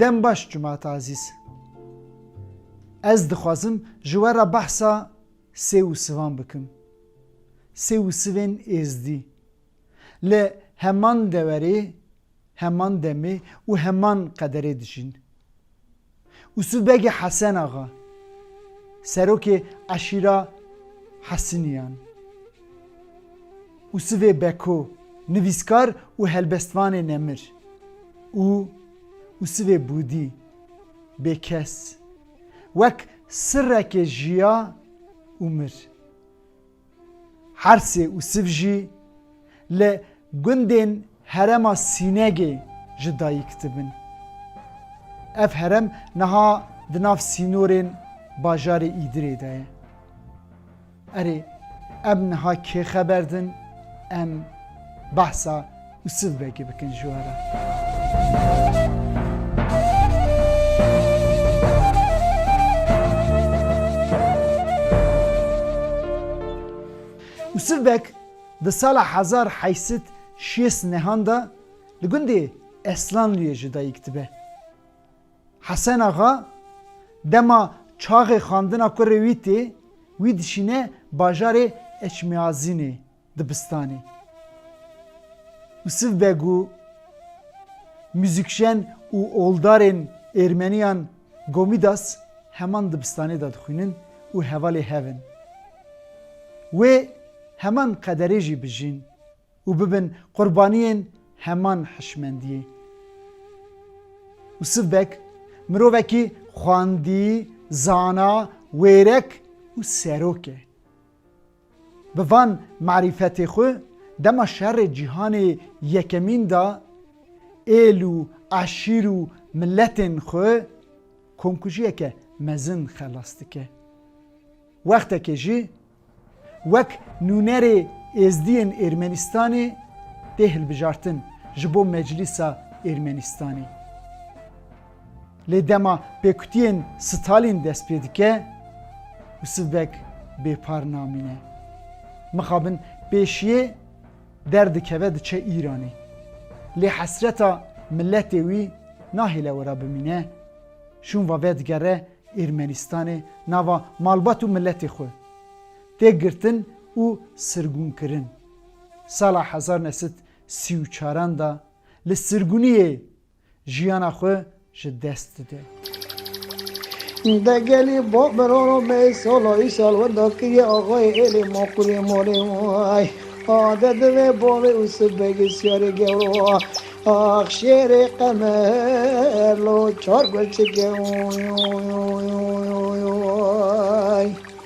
Dem baş Cumat Azîz. Ez dixwazim ji we re behsa sê û sivan bikim. Sê û sivên êzdî. Li heman dewerê Heman demê û heman qederê dijîn û Sû Begê Hesen Axa, serokê eşîra Hesiniyan û Sivê Beko, nivîskar û helbestvanê nemir û û Sivê Bûdî, bêkes, wek sirrekê jiya û mir. Hersê û Siv jî li gundên herema Sînegê ji dayik dibin. Ev herem niha di nav sînorên bajarê Îdirê de ye. Erê, em niha kê xeber din? Em behsa Siv vekî bikin ji we re. Siv vek di sala hezar heyî sed şêst nehan de li gundê Eslanluyê ji dayîk dibe. Hesen Axa dema çaxê xandina kurê wî tê wî dişîne bajarê Eçmiazînê. Dibistanê Yusif Beg û muzîkjen û oldarên Êrmeniyan Gomidas heman dibistanê de dixwînin û hevalê hev in. Wê heman qederê jî bijîn û bibin qurbaniyên heman hişmendiyê. Yusif Beg mirovekî xwendî, zana, wêrek û serok e. Bi van marîfetê xwe dema şerê cîhanê yekemîn de êl û eşîr û miletên xwe komkujiyeke mezin xelas dike. Wextekê jî wek nûnerê êzdiyên Êrmenistanê tê hilbijartin ji bo Meclîsa Êrmenistanê. Lê dema pêkutiyên Stalin dest pê dike û sivek bêpar namîne. Mixabin pêşiyê derdikeve diçe Îranê. Lê hesreta miletê wî nahêle wira bimîne. Şûnva vedigere Êrmenistanê nava malbat û miletê xwe. Tê girtin û sirgûnkirin. Sala hezar nesit sî û çaran de li sirgûniyê Jiyana xwe ji dest dide. Degelî bo bi roro mey solo îşal wenda kiriye axayê êlê ma qulê malê way a de divê bavê û sibê gisyarê gewro wa ax şêrê qemer lo çar gul çike oy oy oy oy oy oy.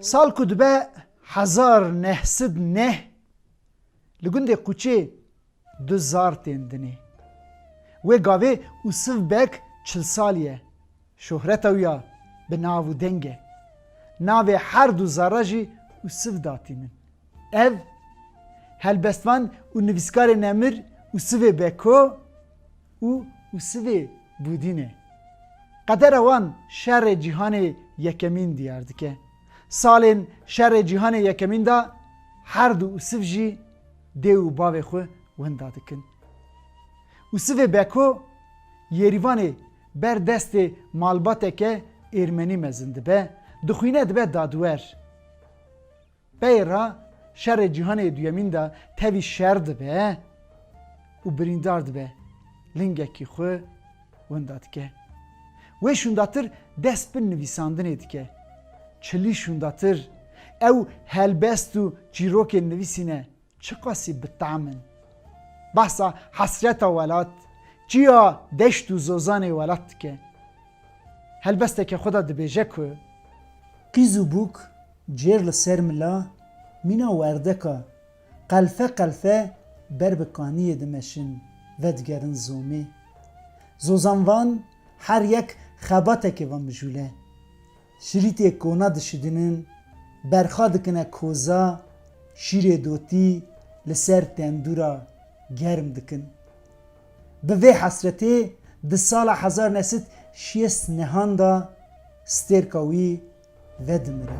Sal ku dibe hezar neh sid neh li gundê Quçê du zar tên dinê. Wê gavê Usif Beg çil salî ye. Şohreta wî ya bi nav û deng e. Navê her du zara jî Usif datînin. Ev, helbestvan û nivîskarê nemir Usivê Beko, û û sivê bûdînê. Qedera wan Şerê Cîhanê Yekemîn diyar dike. Salên Şerê Cîhanê Yekemîn de herdu û siv jî dê û bavê xwe winda dikin. Û sivê Beko Yêrîvanê ber destê malbateke Êrmenî mezin dibe, dixwîne dibe dadwer. Pey re şerê cîhanê duyemîn de tevî şer dibe û birîndar dibe lingekî xwe winda dike. Wê şûndatir dest bi nivîsandinê dike. Çilî şûndatir ew helbest û çîrokên nivîsîne Çiqasî bi tam in. Behsa hesreta welat, çiya deşt û zozanê welat dike. Helbesteke xwe de dibêje ku. Qîz û bûk cêr li ser mila mîna werdeka qelfe qelfe ber bi kaniyê dimeşin vedigerin zomê. Zozanvan her yek xebatekê van mijûle. Şirîtê kona dişidinin, berxa dikine koza, şîrê dotî li ser tendûra germ dikin. Bi vê hesretê di sala hezar ne sed şêst nehan de stêrka wî vedimire.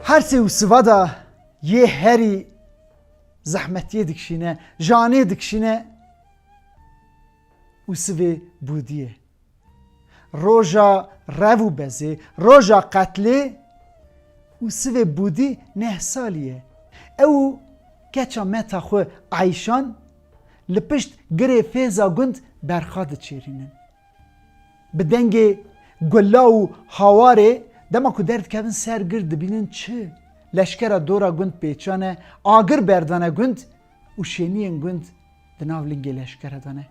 Hersê û sivada yê herî zehmetiyê dikişîne, janê dikişîne û sivê bûdiyê. Roja rev û bezê, roja qetlê û sivê bûdî neh salî ye. Ew û keça meta xwe Eyşan li pişt girê Fêza Gund berxa diçêrînin. Bi dengê gula û hawarê dema ku derdikevin ser gir dibînin çi leşkera dora gund pêçane, agir berdane gund û şêniyên gund di nav lingê leşkere de ne.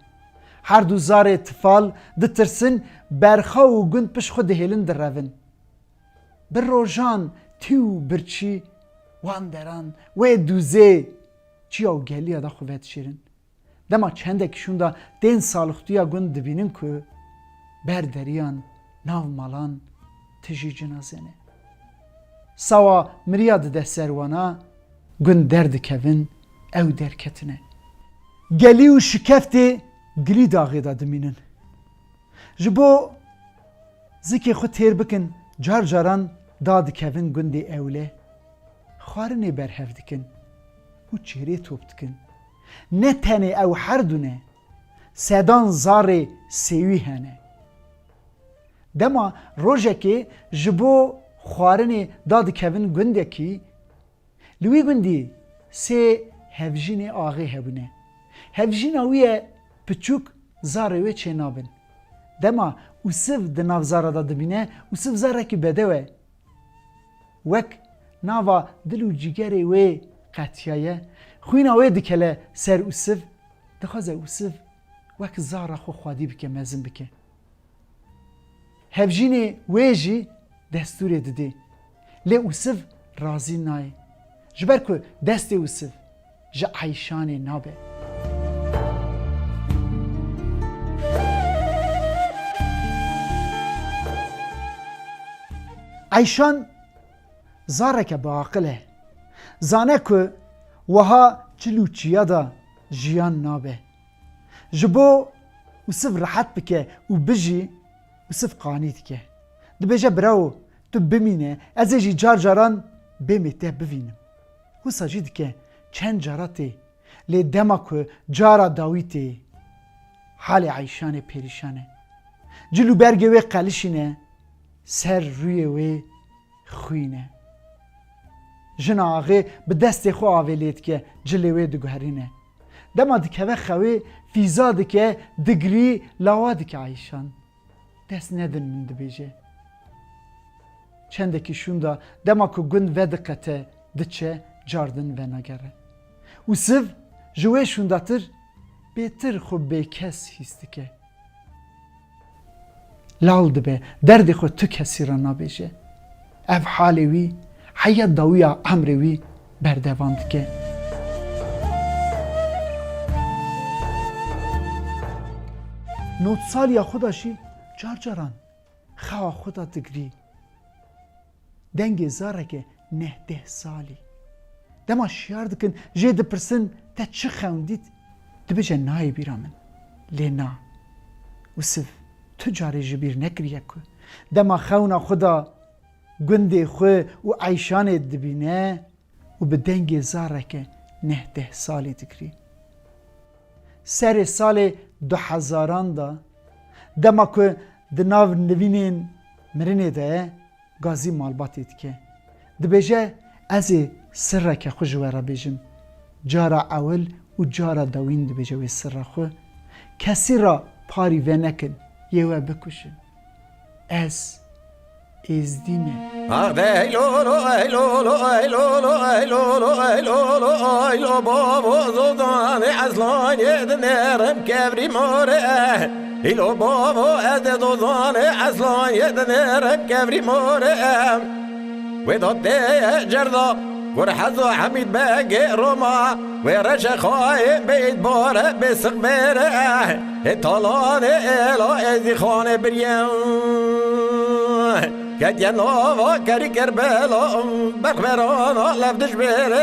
Herdu zarê tifal ditirsin, berxaw û gund pişt xwe dihêlin direvin. Bi rojan tî û birçî wan deran wê dûzê çiya û geliya de xwe vedişêrin. Dema çendek şûnda tên salixtûya gund dibînin ku ber deriyan nav malan tijî cinaze ne. Sawa miriya dide ser wana gund derdikevin ew derketine. Gelî û şikeftê gilî daxê de dimînin. Ji bo zikê xwe têr bikin car caran da dikevin gundê ewle, xwarinê berhev dikin û çêrê top dikin. Ne tenê ew herdu ne, sedan zarê sêwî hene. Dema rojekê ji bo xwarinê da dikevin gundekî, li wî gundî sê hevjînê axê hebûne. Hevjîna wî ye piçûk zarê wê çênabin. Dema Usiv di nav zara da dibîne, Usiv zarekî bedew e. Wek nava dil û cîgerê wê qetiyaye, xwîna wê dikele ser Ûsiv, dixwaze Ûsiv wek zara xwe xwedî bike, mezin bike. Hevjînê wê jî destûrê didê. Lê Ûsiv razî nayê. Ji ber ku destê Ûsiv. ji eyşanê nabe. Eyşan zareke biaqil e. Zane ku wiha çil û çiya de jiyan nabe. Ji bo Usif rehet bike û bijî, Usif qanî dike. Dibêje Bravo, tu bimîne, ez ê jî car caran bêm ê te bivînim. Wisa jî dike çend cara tê. Lê dema ku cara dawî tê halê Eyşanê pêrîşan e. Cil û bergê wê qelişîne, ser rûyê wê xwîn e. Jina axê bi destê xwe avê lê dike, cilê wê diguherîne. Dema dikeve xewê fîza dike, digirî lawa dike Eyşan. Dest nedin min dibêje. Çendekî şûnda dema ku gund vediqete diçe car din venagere û siv ji wê şûndatir bêtir xwe bêkes hîs dike. Lal dibe derdê xwe tu kesî re nabêje. Ev halê wî heya dawiya emrê wî berdewam dike. Notsaliya xwe de jî car caran xewa xwe de digirî. Dengê zareke neh deh salî. Dema şiyar dikin jê dipirsin te çi xewndît? Dibêje nayê bîra min. Lê na. Wisiv. Tu carê ji bîr nekiriye ku dema xewna xwe da gundê xwe û eyşanê dibîne û bi dengê zareke neh deh salî dikirî. Serê salê du hezaran de dema ku di nav nivînên mirinê de Gazî malbatê dike. Dibêje Ez ê sirreke xwe ji we re bêjim. Cara ewil û cara dewîn dibêje wê sirra xwe, Kesî re parî vênekin yê we bikuşin. Ez Êzdî me. Hîlo bavo ez dê dozanê eslanyê dinêre kevrî morê wê da têye cerda kur hezo hemîd begê roma wê reşe xayê beyt bare bê siqbêre hê talanê êla êzî xanê birye ketiye nava kerî kerbela berxwerana levdijbêre.